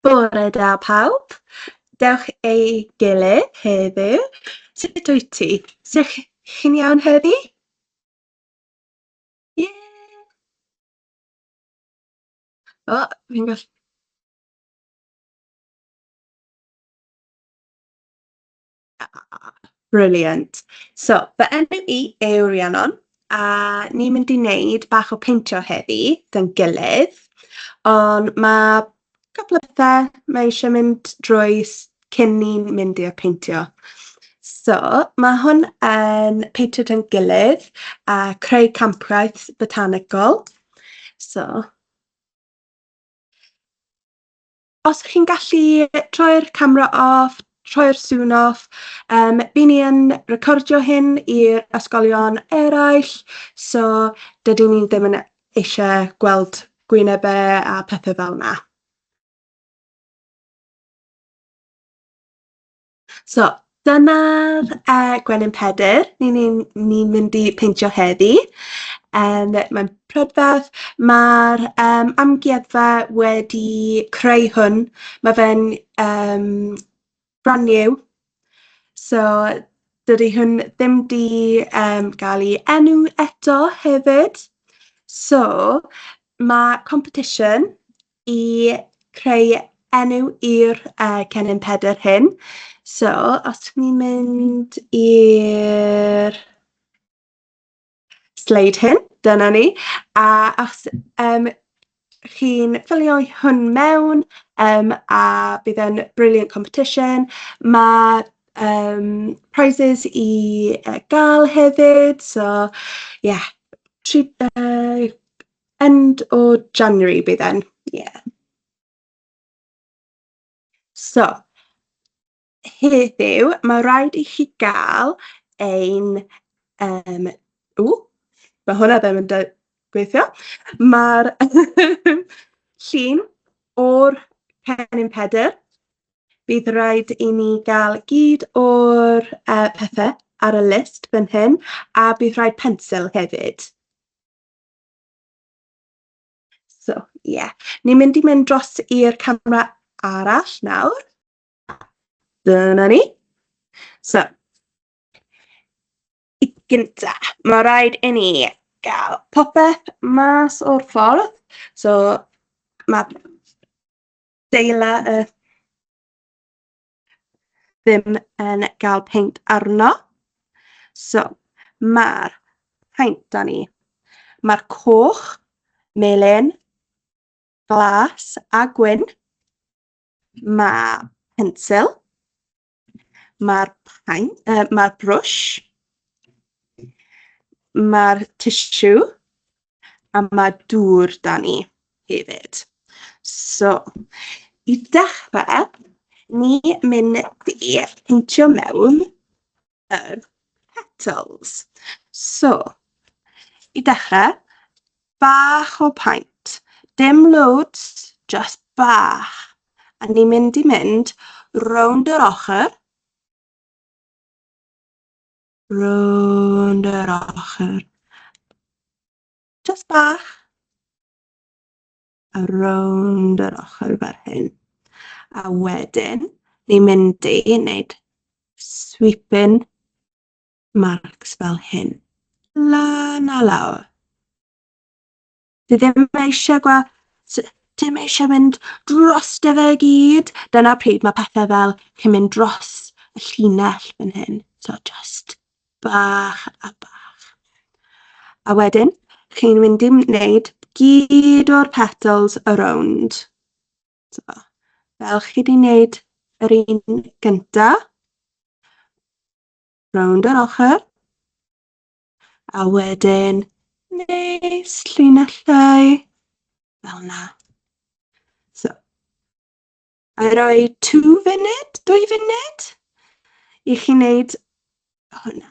Bore da pawb. Dewch ei gilydd heddiw. Sut wyt ti? Sut chi'n iawn heddi? Ie! O, fi'n gallu... Brilliant. So, fy enw i yw Rhiannon, a ni'n mynd i wneud bach o peintio heddi, da'n gilydd. Ond mae cwpl o bethau mae eisiau mynd drwy s- cyn i ni mynd i'r peintio. So, mae hwn yn peintio da'n gilydd a creu campwaith botanegol. So... os chi'n gallu troi'r camera off, troi'r sŵn off, um, by ni yn recordio hyn i'r ysgolion eraill, so dydyn ni ddim yn eisiau gweld gwynebau a pethau fel yna. So, dyna'r uh, gwenyn pedr ni'n ni, ni mynd i peintio heddi. Um, mae'n prydferth. Mae'r um, amgueddfa wedi creu hwn. Mae fe'n um, brand new. So, dydy hwn ddim di um, gael ei enw eto hefyd. So, mae competition i creu enw i'r uh, cennin pedr hyn. So, os ti'n ni'n mynd i'r sleid hyn, dyna ni. A os um, chi'n ffilio hwn mewn um, a bydd e'n brilliant competition, mae um, prizes i uh, gael hefyd. So, ie, yeah, tri, uh, End o January bydd e'n, ie. Yeah. So, heddiw, mae rhaid i chi gael ein... Um, ww, mae hwnna ddim yn gweithio. Mae'r llun o'r cennin pedr. Bydd rhaid i ni gael gyd o'r uh, pethau ar y list fan hyn, a bydd rhaid pensil hefyd. So, ie. Yeah. Ni'n mynd i mynd dros i'r camera arall nawr. Dyna ni. So, i gynta, mae rhaid i ni gael popeth mas o'r ffordd. So, mae deila y ddim yn gael peint arno. So, mae'r peint da ni. Mae'r coch, melyn, glas a gwyn. Mae pensil. Mae'r uh, mae brwsh. Mae'r tissue. a mae dŵr da ni hefyd. So, i dechrau, ni mynd i peintio mewn yr petals. So, i dechrau, bach o paint. Dim loads, just bach. A ni'n mynd i mynd rownd yr ochr. Rownd yr ochr. Jyst bach. A rownd yr ochr fel hyn. A wedyn, ni'n mynd i wneud sweeping marks fel hyn. Lan a lawr. Dwi ddim eisiau gwa... Dwi ddim eisiau mynd dros dy fe i gyd. Dyna pryd mae pethau fel chi'n mynd dros y llinell fan hyn. So just bach a bach. A wedyn, chi'n mynd i wneud gyd o'r petals y rownd. So, fel chi wedi wneud yr un gyntaf, rownd yr ochr, A wedyn, neis, llinellau, fel na. So, a roi two funud, dwy funud, i chi wneud hwnna.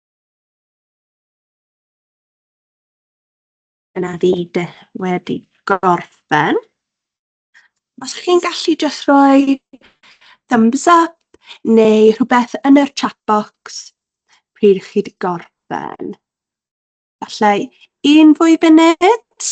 Dyna fi de, wedi gorffen. Os chi'n gallu jyst rhoi thumbs up neu rhywbeth yn yr chat box pryd chi wedi gorffen. Alla i un fwy funud?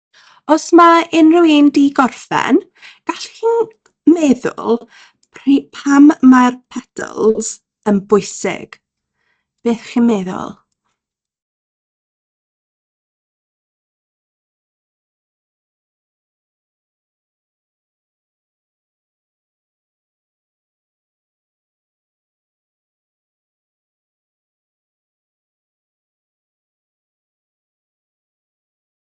Os mae unrhyw un 'di gorffen, gallwch chi meddwl pri- pam mae'r petals yn bwysig? Beth chi'n meddwl?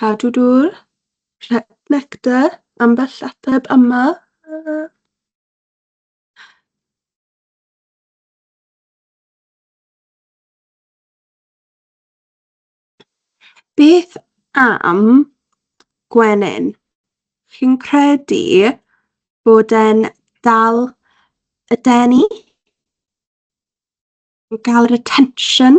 Cadw dŵr, rhep nectar, ambell ateb yma. Beth am gwenyn? Chi'n credu bod e'n dal y denu? Yn cael yr attention?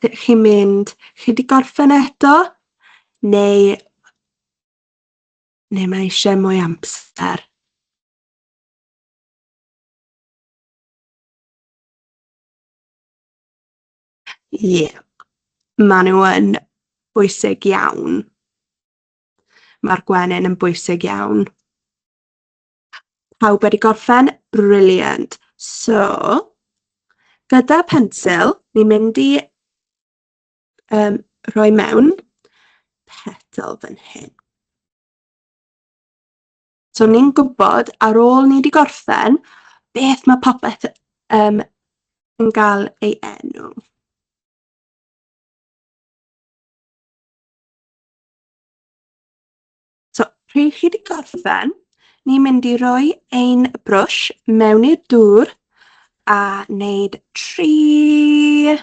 Ydych chi'n mynd, chi wedi gorffen eto? Neu, neu mae eisiau mwy amser? Ie, yeah. maen nhw yn bwysig iawn. Mae'r gwenyn yn bwysig iawn. Pawb wedi gorffen? Brilliant. So, gyda pensil, ni'n mynd i um, rhoi mewn petal fan hyn. So ni'n gwybod ar ôl ni wedi gorffen beth mae popeth um, yn cael ei enw. So, pryd chi wedi gorffen, ni'n mynd i roi ein brwsh mewn i'r dŵr a wneud tri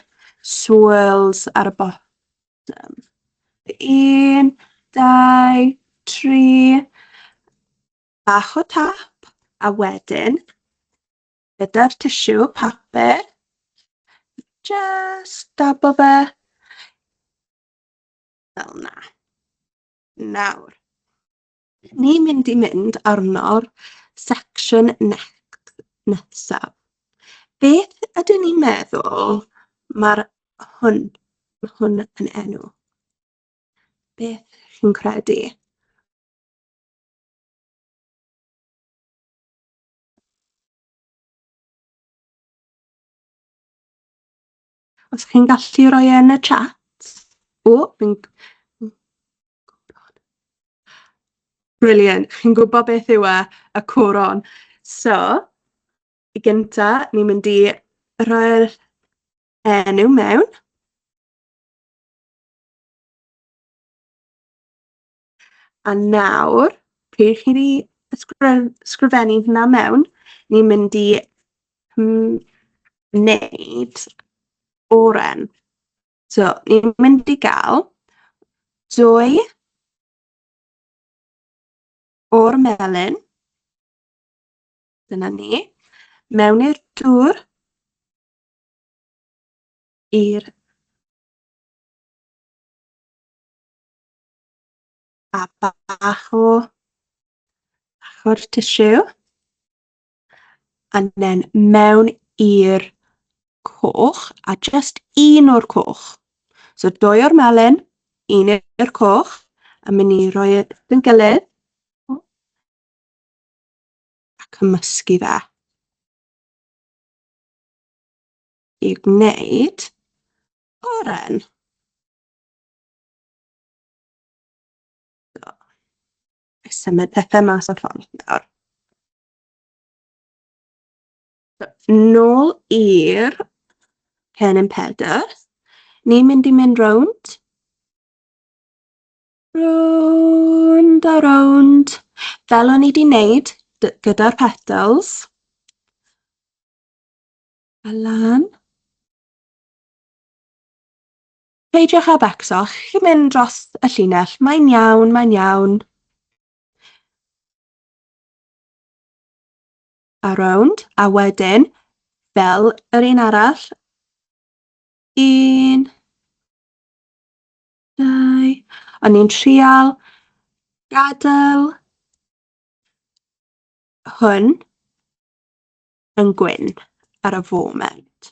swirls ar y bottom. Un, dau, tri, bach o tap, a wedyn, gyda'r tissue papur, just dab o fe, fel na. Nawr, ni'n mynd i mynd arno'r section next nesaf. Beth ydyn ni'n meddwl mae'r hwn, mae hwn yn enw? Beth chi'n credu? Os chi'n gallu rhoi e yn y chat. O, fi'n... Brilliant. Chi'n gwybod beth yw e? Y coron. So, i gynta, ni'n mynd i rhoi'r enw mewn. A nawr, pryd chi wedi ysgrif- ysgrifennu hwnna mewn, ni'n mynd i mm, wneud oren. So, ni'n mynd i gael dwy o'r melyn, dyna ni, mewn i'r dŵr, i'r A bach o bach o'r tissue. And then mewn i'r coch, a just un o'r coch. So dwy o'r melyn, un i'r coch, a mynd i roi e yn gilydd. A cymysgu fe. I gwneud oren. Symud pethau mas o'r ffordd nawr. Nôl i'r cennin pedr. Ni'n mynd i mynd rownd. Rownd a rownd. Fel o'n i wedi wneud gyda'r petals. A lan. Peidiwch â becso, chi'n mynd dros y llinell, mae'n iawn, mae'n iawn. A rownd, a wedyn, fel yr un arall, un, dau, o'n i'n trial gadael hwn yn gwyn ar y foment.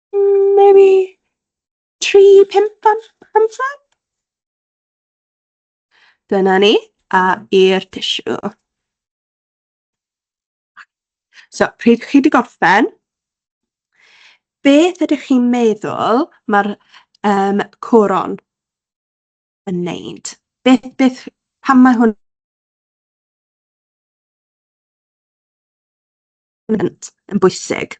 Mm, maybe tri, pump am amser? Dyna ni, a i'r tissue. So, pryd chi wedi gorffen, beth ydych chi'n meddwl mae'r um, coron yn neud? Beth, beth, pam mae hwn yn bwysig?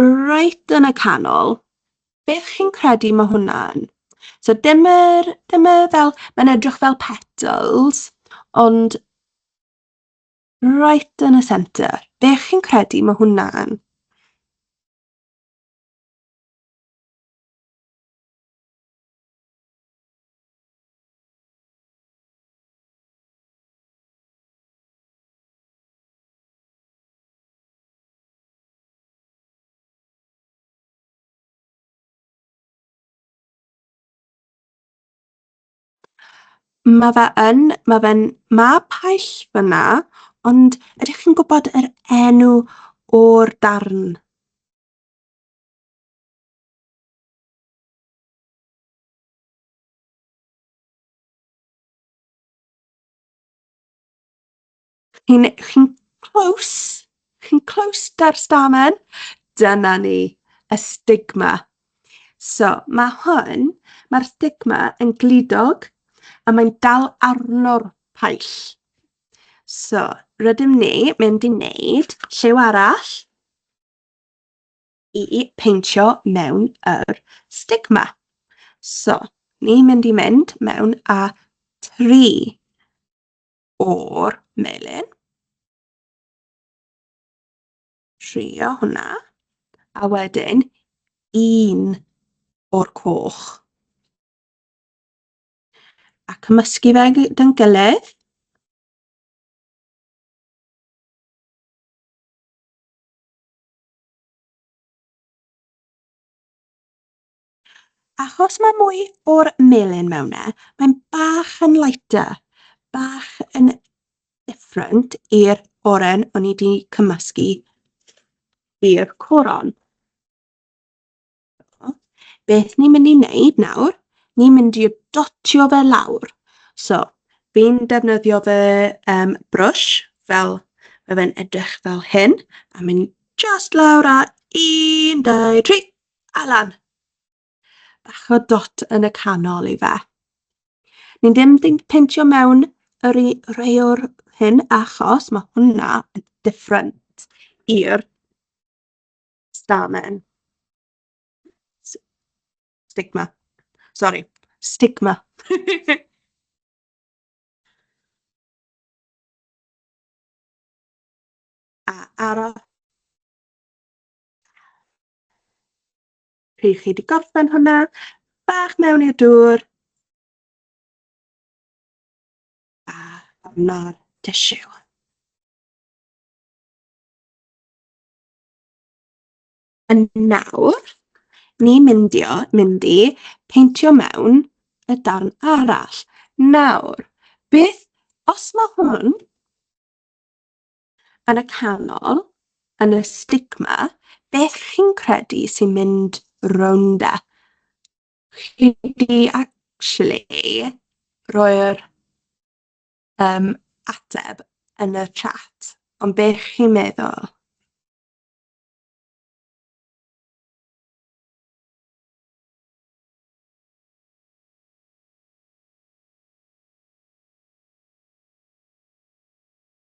Reit yn y canol, beth chi'n credu mae hwnna'n? So dyma'r, dyma fel, mae'n edrych fel petals, ond right yn y centre. Be chi'n credu mae hwnna'n? Ma' fe yn, ma' fe'n mab paill fan'na, ond ydych chi'n gwybod yr enw o'r darn? Chi'n chi close? Chi'n close da'r stamen? Dyna ni, y stigma. So, mae hwn, mae'r stigma yn glidog a mae'n dal arno'r paill. So, rydym ni mynd i wneud lliw arall i peintio mewn yr stigma. So, ni'n mynd i mynd mewn a tri o'r melin. Trio hwnna. A wedyn un o'r coch. A cymysgu fe gyda'n gilydd. Achos mae mwy o'r melyn mewn e, mae'n bach yn lighter, bach yn different i'r oren o'n i wedi cymysgu i'r coron. Beth ni'n mynd i wneud nawr, ni'n mynd i dotio fe lawr. So, fi'n defnyddio fy um, brwsh fel mae fe'n edrych fel hyn, a mynd just lawr a un, dau, tri. Alan! Bach o dot yn y canol i fe. Ni ddim yn peintio mewn yr i rei o'r hyn achos mae hwnna yn different i'r stamen. S- Stigma. Sori, stigma. A aros Pryd chi wedi gorffen hwnna, bach mewn i'r dŵr. A arno'r tissue. Yn nawr, ni myndio, mynd i peintio mewn y darn arall. Nawr, beth, os mae hwn yn y canol, yn y stigma, beth chi'n credu sy'n mynd rownd e? Chi di actually roi'r um, ateb yn y chat, ond beth chi'n meddwl?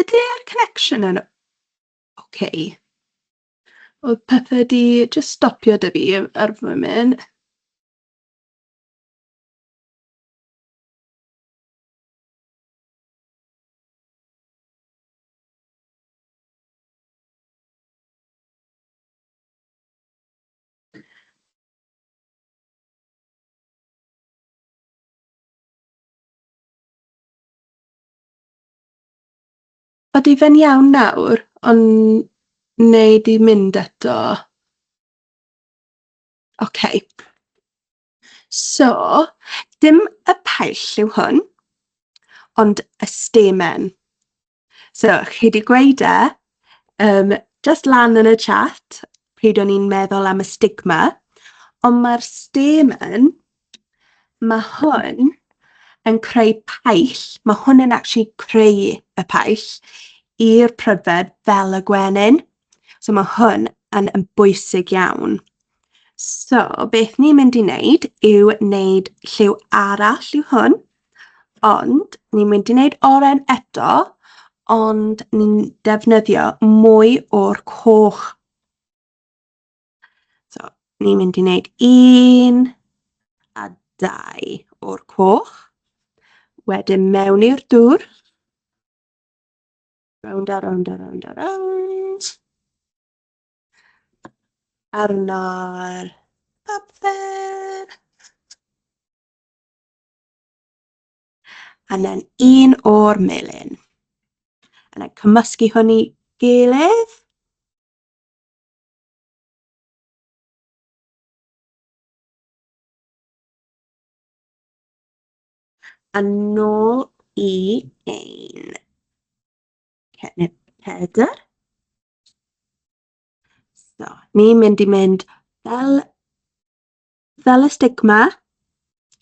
Ydy'r connection yn ok? Oedd pethe 'di jyst stopio 'da fi ar y foment. Odi fe'n iawn nawr on- neu 'di mynd eto? Ok. So, dim y paill yw hwn, ond y stamen. So, chi wedi gweud e, um, just lan yn y chat, pryd o'n i'n meddwl am y stigma, ond mae'r stamen, mae hwn yn creu paill, mae hwn yn actually creu y paill i'r prydferth fel y gwenyn. So mae hwn yn, yn bwysig iawn. So, beth ni'n mynd i wneud yw wneud lliw arall yw hwn, ond ni'n mynd i wneud oren eto, ond ni'n defnyddio mwy o'r coch. So, ni'n mynd i wneud un a dau o'r coch, wedyn mewn i'r dŵr, Rownd a rownd a rownd a rownd. Arno'r papur. A then un o'r melin. A then cymysgu hwn i gilydd. Yn nôl i ein cennydd pedr. So, ni'n mynd i mynd fel, fel y stigma.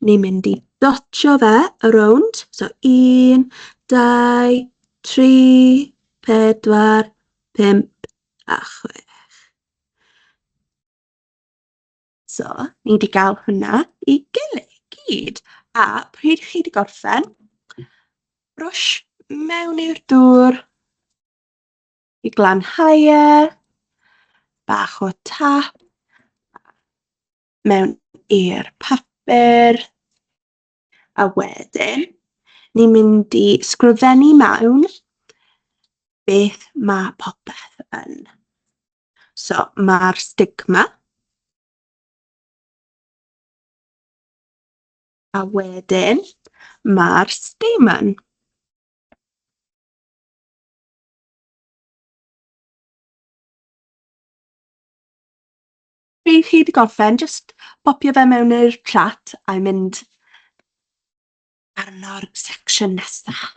Ni'n mynd i dotio fe y rownd. So, un, dau, tri, pedwar, pump a chwech. So, ni wedi cael hwnna i gilydd i gyd. A pryd chi wedi gorffen, rwsh mewn i'r dŵr i glanhau e, bach o tap, mewn i'r papur, a wedyn ni'n mynd i sgrifennu mewn beth mae popeth yn. So, mae'r stigma a wedyn mae'r stamen. Chi wedi gorffen, jyst popio fe mewn i'r chat a mynd arno'r section nesaf.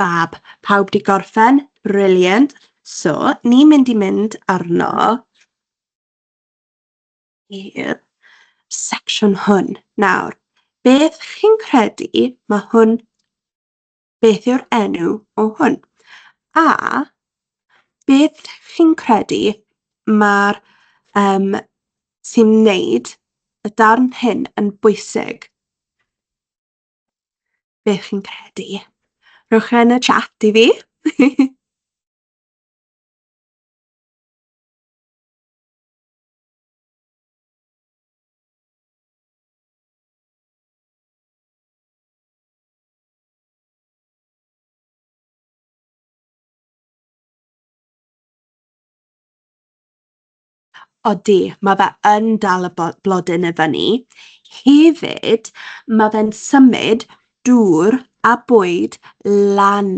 Fab, pawb 'di gorffen? Brilliant! So, ni'n mynd i mynd arno i'r secsiwn hwn. Nawr, beth chi'n credu mae hwn... beth yw'r enw o hwn? A beth chi'n credu mae'r um, sy'n wneud y darn hyn yn bwysig? beth chi'n credu. Rhowch e yn y chat i fi. Odi, mae fe yn dal y bo- blodyn i fyny. Hefyd, mae fe'n symud dŵr a bwyd lan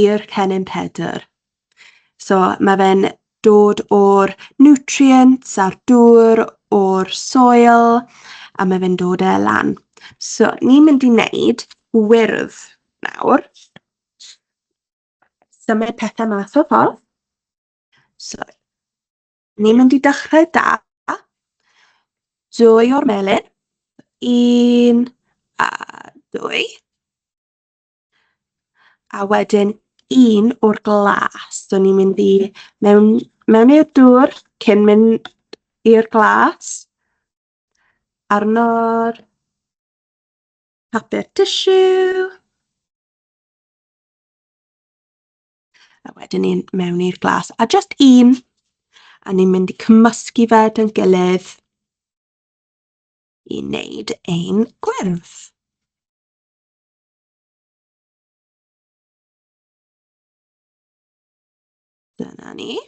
i'r cennin pedr. So, mae fe'n dod o'r nutrients a'r dŵr o'r soil, a mae fe'n dod e lan. So, ni'n mynd i wneud gwyrdd nawr. Symud pethau mas o'r ffordd. So, Ni'n mynd i dechrau da. Dwy o'r melin. Un a dwy. A wedyn un o'r glas. So ni'n mynd i mewn, mewn i'r dŵr cyn mynd i'r glas. Arno'r papur tissue. A wedyn ni'n mewn i'r glas. A jyst un, a ni'n mynd i cymysgu fe dyn gilydd i wneud ein gwyrdd. Dyna ni.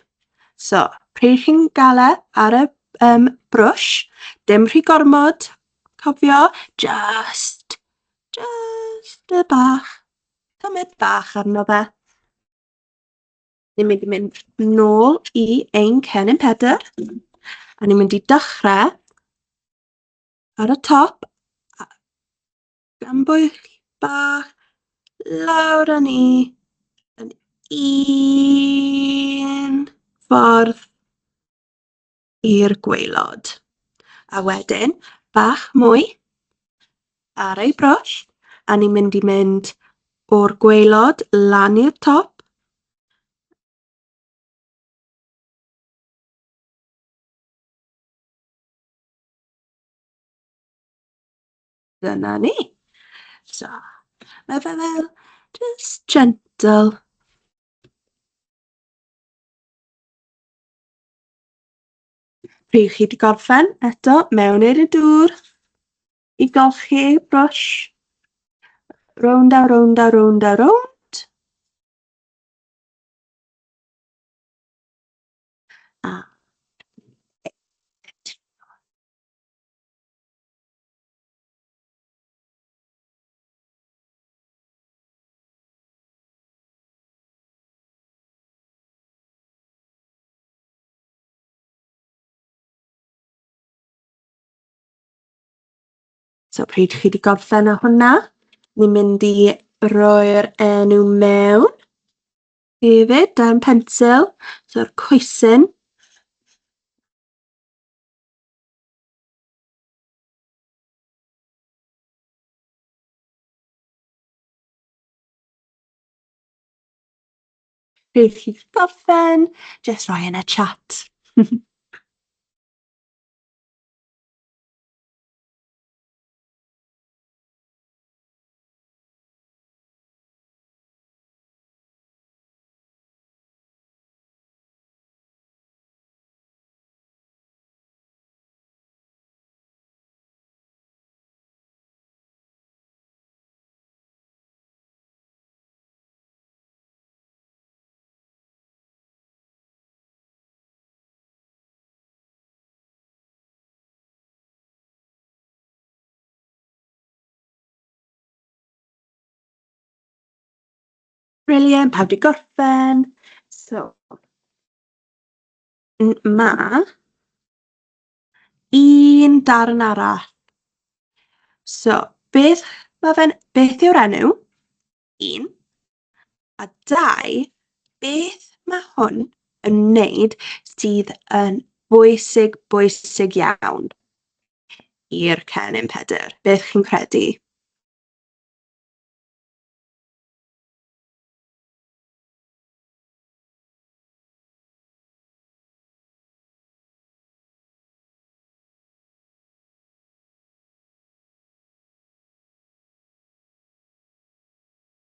So, pryd chi'n gael e ar y um, brwsh, dim rhy gormod, cofio, just, just y bach, Cymryd bach arno fe. Ni'n mynd i mynd nôl i ein cennin pedr. A ni'n mynd i dechrau ar y top. Gan bwy bach lawr â ni yn un ffordd i'r gwaelod. A wedyn, bach mwy ar ei broll, a ni'n mynd i mynd o'r gwaelod lan i'r top. Dyna ni. So, mae fe fel just gentle Pryd chi 'di gorffen eto mewn i'r dŵr i golchi brwsh. Rownd a rownd a rownd a rownd. A So pryd chi wedi gorffen â hwnna, ni'n mynd i roi'r enw mewn hefyd dan pensil, so'r coesyn. Beth chi'n gorffen? Jyst rhoi yn y chat. Brilliant, pawb 'di gorffen. So n- ma' un darn arall. So beth ma' fe'n... beth yw'r enw? Un. A dau, beth mae hwn yn wneud sydd yn bwysig, bwysig iawn i'r Cennin Pedr? Beth chi'n credu?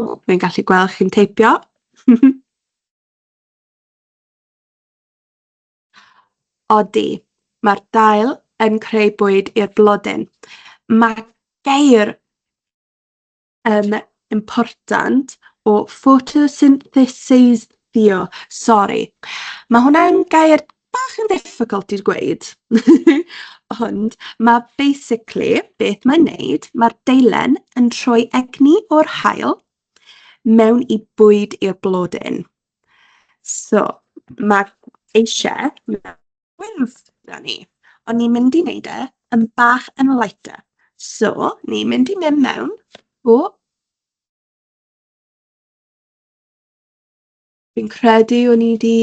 O, fi'n gallu gweld chi'n teipio. Odi, mae'r dail yn creu bwyd i'r blodyn. Mae geir um, important o ffotosyntheseiddio. Sori. Mae hwnna'n gair bach yn difficult i'r gweud. Ond mae basically beth mae'n neud, mae'r deilen yn troi egni o'r hael mewn i bwyd i'r blodyn. So, mae eisiau gwyrdd 'na ni. O'n ni'n mynd i wneud e yn bach yn lighter. So, ni'n mynd i mynd mewn. O! Fi'n credu o'n i 'di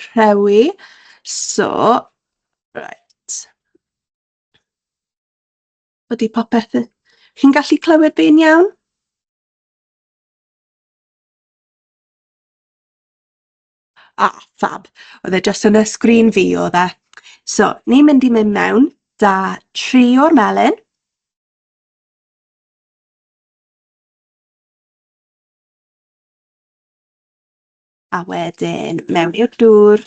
rhewi. So, reit. Ydy popeth yn... Chi'n gallu clywed fi'n iawn? Ah, fab. Oedd e jyst yn y sgrin fi oedd e. So, ni'n mynd i mynd mewn da tri o'r melyn. A wedyn mewn i'r dŵr.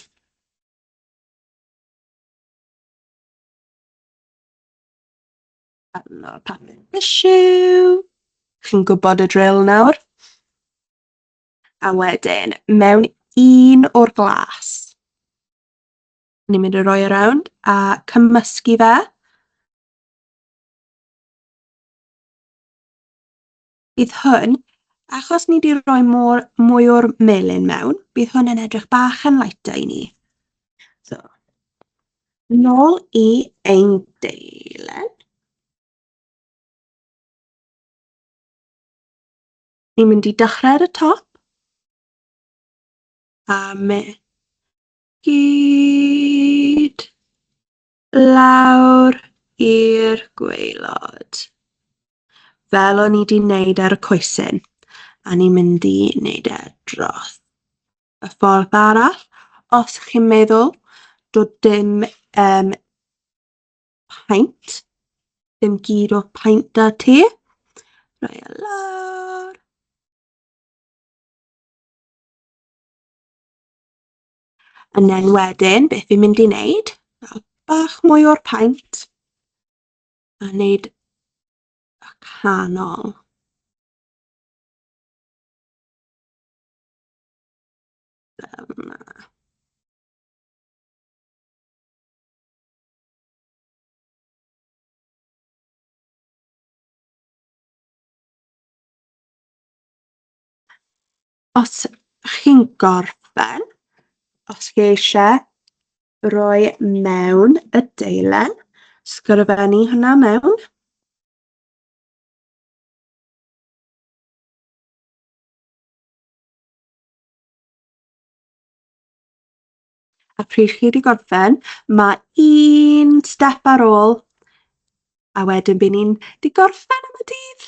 Arno papur tissue. Chi'n gwybod y drill nawr. A wedyn, mewn un o'r glas, ni'n mynd i roi e rownd a cymysgu fe. Bydd hwn, achos ni 'di roi mor- mwy o'r melyn mewn, bydd hwn yn edrych bach yn lighter i ni. So, nôl i ein deilen. Ni'n mynd i dechrau ar y top. A me. Gyd. Lawr i'r gweilod. Fel o'n i di wneud ar y coesyn. A ni'n mynd i wneud e dros y ffordd arall. Os chi'n meddwl, dod dim um, paint. Dim gyd o paint da ti. Rhoi e lawr. And then wedyn, beth fi'n mynd i wneud? Bach mwy o'r paint. A wneud y canol. Fel yma. Os chi'n gorffen, os chi eisiau roi mewn y deilen, sgrifennu hwnna mewn. A pryd chi wedi gorffen, mae un step ar ôl, a wedyn bydd ni'n di gorffen am y dydd.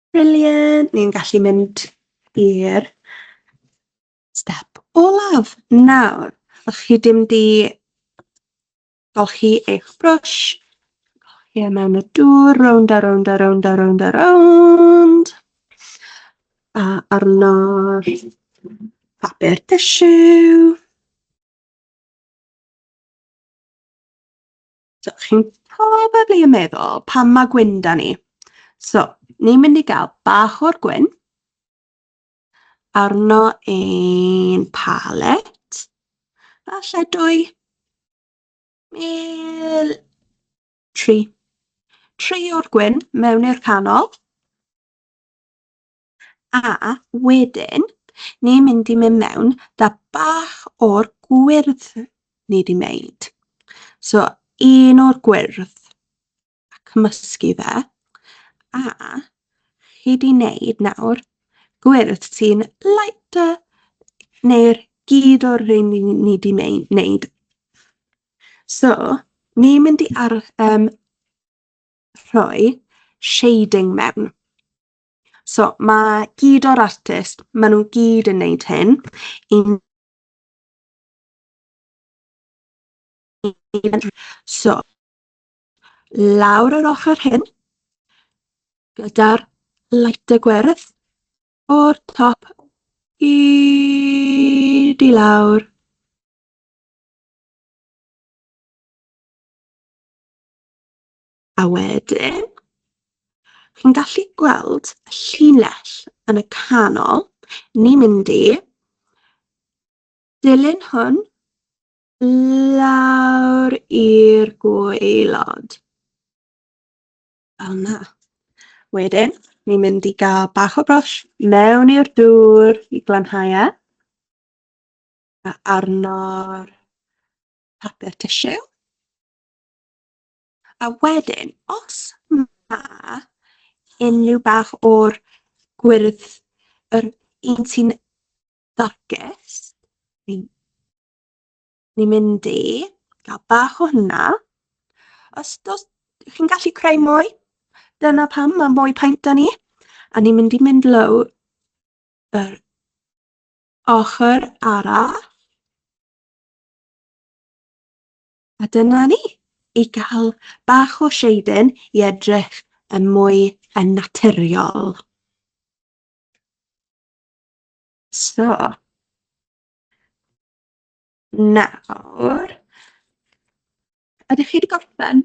Brilliant! Ni'n gallu mynd i'r step olaf nawr. Os chi ddim 'di golchi eich brwsh, golchi e mewn y dŵr, rownd a rownd a rownd a rownd a rownd. A arno'r papur tissue. So, chi'n probably yn meddwl, pam mae gwyn da ni? So, ni'n mynd i gael bach o'r gwyn, arno ein palet, falle dwy, mil, tri. Tri o'r gwyn mewn i'r canol. A wedyn, ni'n mynd i mynd mewn da bach o'r gwyrdd ni di wneud. So, un o'r gwyrdd a cymysgu fe. A chi di wneud nawr gwyrdd sy'n lighter neu'r gyd o'r rhain ni, ni di wneud. So, ni'n mynd i ar, um, rhoi shading mewn. So mae gyd o'r artist, maen nhw gyd yn wneud hyn. I'n... So, lawr yr ochr hyn, gyda'r light y gwerth, o'r top i di lawr. A wedyn, chi'n gallu gweld y llinell yn y canol, ni'n mynd i dilyn hwn lawr i'r gwaelod. Fel yna. Wedyn, ni'n mynd i gael bach o brosh mewn i'r dŵr i glanhau e. A arno'r papur tissue. A wedyn, os mae unrhyw bach o'r gwyrdd yr un sy'n darkest, ni'n ni mynd i gael bach o hynna. Os dos, chi'n gallu creu mwy, dyna pam mae mwy paint da ni. A ni'n mynd i mynd low yr ochr arall. A dyna ni, i gael bach o shading i edrych yn mwy yn naturiol. So, nawr, ydych chi wedi gorffen?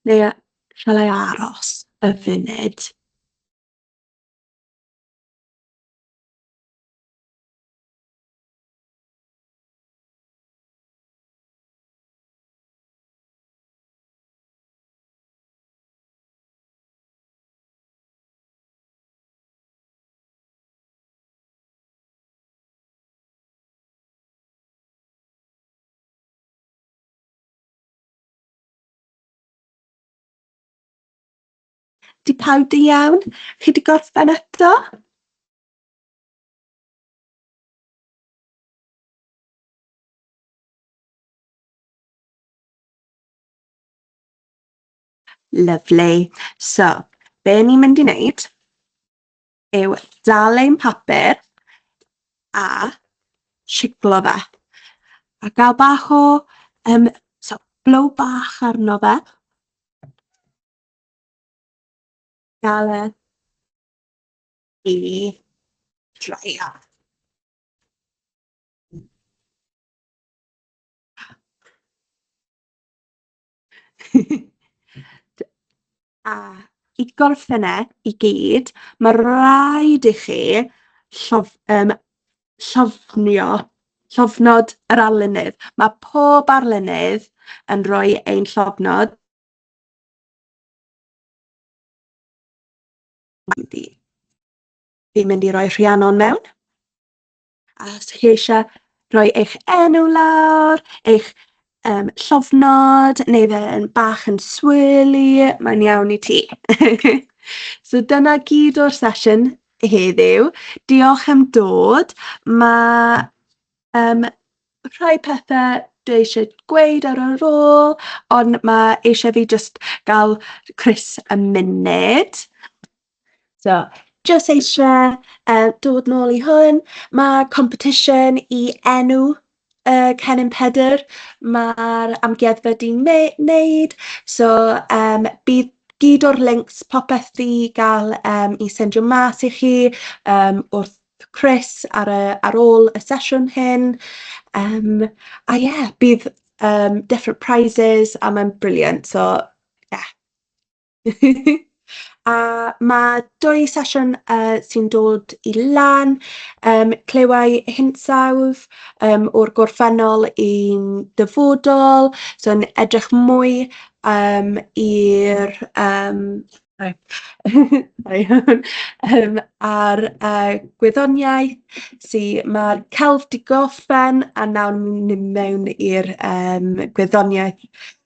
Neu yy, shall I aros y funud? Di pawb di iawn? Chi di gorffen eto? Lyfli. So, be ni'n mynd i wneud yw dal ein papur a shiglo fe, a gael bach o yym so blow bach arno fe. Gael e i draio. A i gorffen e i gyd, ma' raid i chi llof- yym llofnio llofnod yr arlunydd. Mae pob arlunydd yn rhoi ein llofnod Fi'n mynd i roi Rhiannon mewn. A os ydych chi eisiau rhoi eich enw lawr, eich um, llofnod, neu fe'n bach yn swirly, mae'n iawn i ti. so dyna gyd o'r sesiwn heddiw. Diolch am dod. Mae um, rhai pethau dwi eisiau gweud ar yr ôl, ond mae eisiau fi just gael Chris a munud. So, jyst eisiau uh, dod nôl i hwn. Mae competition i enw uh, Cennin Pedr. Mae'r amgueddfa di wneud. So, um, bydd gyd o'r links popeth di gael um, i sendio mas i chi um, wrth Chris ar, y, ar ôl y sesiwn hyn. Um, a ie, yeah, bydd um, different prizes a mae'n briliant. So, yeah. a mae dwy sesiwn yy sy'n dod i lan, yym clywai hinsawdd yym o'r gorffennol i'n dyfodol, so yn edrych mwy yym i'r yym yym a'r yy gwyddoniaeth sy mae'r celf 'di gorffen a nawr ni'n mynd mewn i'r yym gwyddoniaeth.